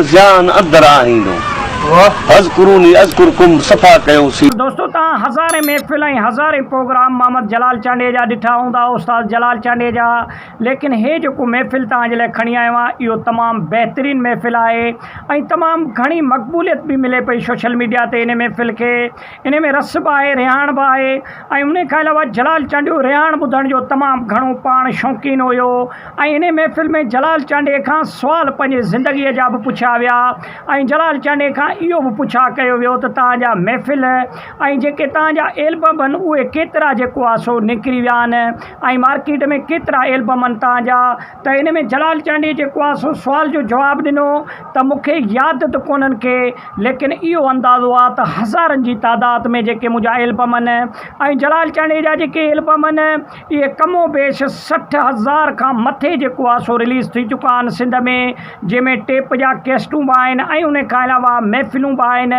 ذيان اندر آڻيندو. فاذڪروني اذڪرڪم صفا ڪيو سين. دوستو توهان هزارين محفل ۽ هزارين پروگرام محمد جلال چانڊيي جا ڏٺا هوندا استاد جلال چانڊيي جا ليڪن هي جيڪو محفل توهان جي لاء کڻي آيو آهيان اهو تمام بهترين محفل آهي ۽ تمام گهڻي مقبوليت به ملي پئي سوشل ميڊيا تي ان محفل کي انهيء ۾ رس به آهي، رهاڻ به آهي ۽ انهيء کان علاوه جلال چانڊيو رهاڻ ٻڌڻ جو تمام گهڻو پاڻ شوقين هيو ۽ انهيء محفل ۾ جلال چانڊيي کان سوال پنهنجي زندگيء جا به پڇيا ويا ۽ جلال چانڊيي کان اهو به پڇا ڪيو ويو ته توهان جا محفل ۽ جيڪي توهان جا ايلبم هن اهي ڪيترا جيڪو آهي سو نڪري ويا آهن ۽ مارڪيٽ ۾ ڪيترا ايلبم آهن توهان جا ته ان ۾ جلال چانڊيي جي ڪواس سوال جو جواب ڏنو ته مون کي ياد ته ڪونهن ڪي ليڪن اهو اندازو آ ته هزارن جي تعداد ۾ جيڪي منهنجا ايلبم ان ۽ جلال چانڊيي جا جيڪي ايلبم ان اهي ڪم و بيش سٺ هزار کان مٿي جي ڪواسو رليز ٿي چڪا آهن سنڌ ۾ جنهن ۾ ٽيپ جا ڪيسٽون به آهن ۽ ان کان علاوه محفلون به آهن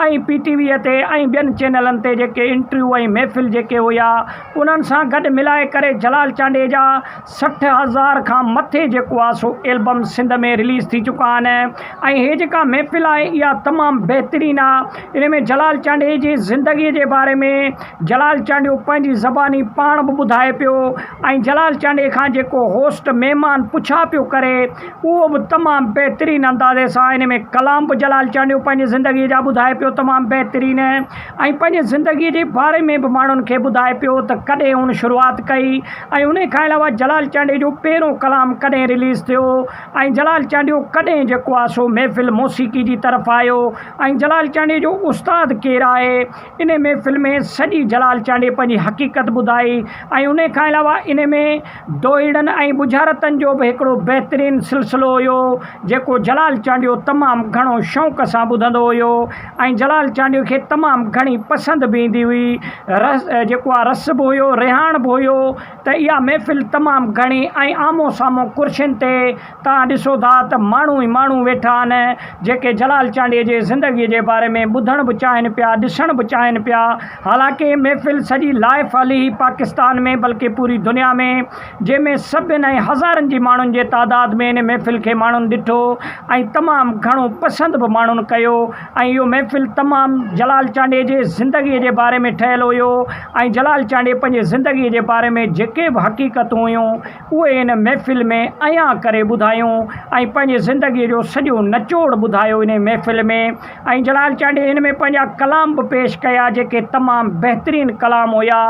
۽ پي ٽي ويء تي ۽ ٻين چينلن تي جيڪي انٽريو ۽ محفل جيڪي هيا انهن سان گڏ ملائي ڪري جلال چانڊيي جا سٺ هزار کان مٿي جيڪو آهي سو البم سنڌ ۾ رليز ٿي چڪا آهن ۽ هي جيڪا محفل آهي اها تمام بهترين آهي ان ۾ جلال چانڊيي جي زندگي جي باري ۾ جلال چانڊيو پنهنجي زباني پاڻ به ٻڌائي پيو ۽ جلال چانڊيي کان جيڪو هوسٽ مهمان پڇا پيو ڪري اهو به تمام بهترين اندازي سان ان ۾ ڪلام به جلال چانڊيو پنهنجي زندگي جا ٻڌائي پيو تمام بهترين ۽ پنهنجي زندگي جي باري ۾ به ماڻهن کي ٻڌائي پيو ته ڪڏهن هن شروعات ڪئي ۽ ان کان علاوه جلال چانڊيو جو پهريون ڪلام ڪڏهن رليز ٿيو ۽ جلال چانڊيو ڪڏهن جيڪو آهي سو محفل موسيقي جي طرف آيو ۽ جلال چانڊيو جو استاد ڪير آهي ان محفل ۾ سڄي جلال چانڊيو پنهنجي حقيقت ٻڌائي ۽ ان کان علاوه ان ۾ دوهيڙن ۽ ٻجهارتن جو به هڪڙو بهترين سلسلو هيو، جيڪو جلال چانڊيو تمام گهڻو شوق سان ٻڌندو هيو ۽ جلال چانڊيو کي تمام گهڻي پسند به ايندي هئي. رس جيڪو آ رس به هيو، رهاڻ به هيو ته اها محفل تمام گهڻي ۽ آمهون سامهون ڪرسين تي توهان ڏسو ٿا ته ماڻهو ئي ماڻهو ويٺا آهن جيڪي جلال چانڊيي جي زندگي جي باري ۾ ٻڌڻ به چاهين پيا ڏسڻ به چاهين پيا حالانڪه هي محفل سڄي لائف علي هي پاڪستان ۾ بلڪه پوري دنيا ۾ جنهن ۾ سڀين ۽ هزارن جي ماڻهن جي تعداد ۾ ان محفل کي ماڻهن ڏٺو ۽ تمام گهڻو پسند به ماڻهن ڪيو ۽ اهو محفل تمام جلال چانڊيي جي زندگي جي باري ۾ ٺهيل هيو ۽ جلال چانڊيي پنهنجي زندگي جي باري ۾ جيڪي به حقيقتون هيون اهي ان محفل ۾ عيان ڪري ٻڌايون ۽ پنهنجي زندگيء جو سڄو نچوڙ ٻڌايو انهيء محفل ۾، ۽ جلال چانڊيي ان ۾ پنهنجا ڪلام به پيش ڪيا، جيڪي تمام بهترين ڪلام هيا،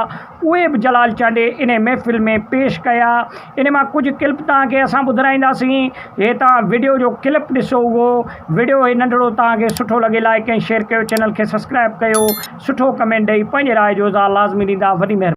اهي به جلال چانڊيي انهيء محفل ۾ پيش ڪيا، انهيء مان ڪجهه ڪلپ توهان کي اسان ٻڌرائينداسين، هي توهان وڊيو جو ڪلپ ڏسو اهو وڊيو هي ننڍڙو توهان کي سٺو لڳي لائيڪ ۽ شيئر ڪيو چينل کي سبسڪرائيب ڪيو سٺو ڪمينٽ ڏئي پنهنجي راء جو اظهار لازمي ڏيندا وڏي مهرباني.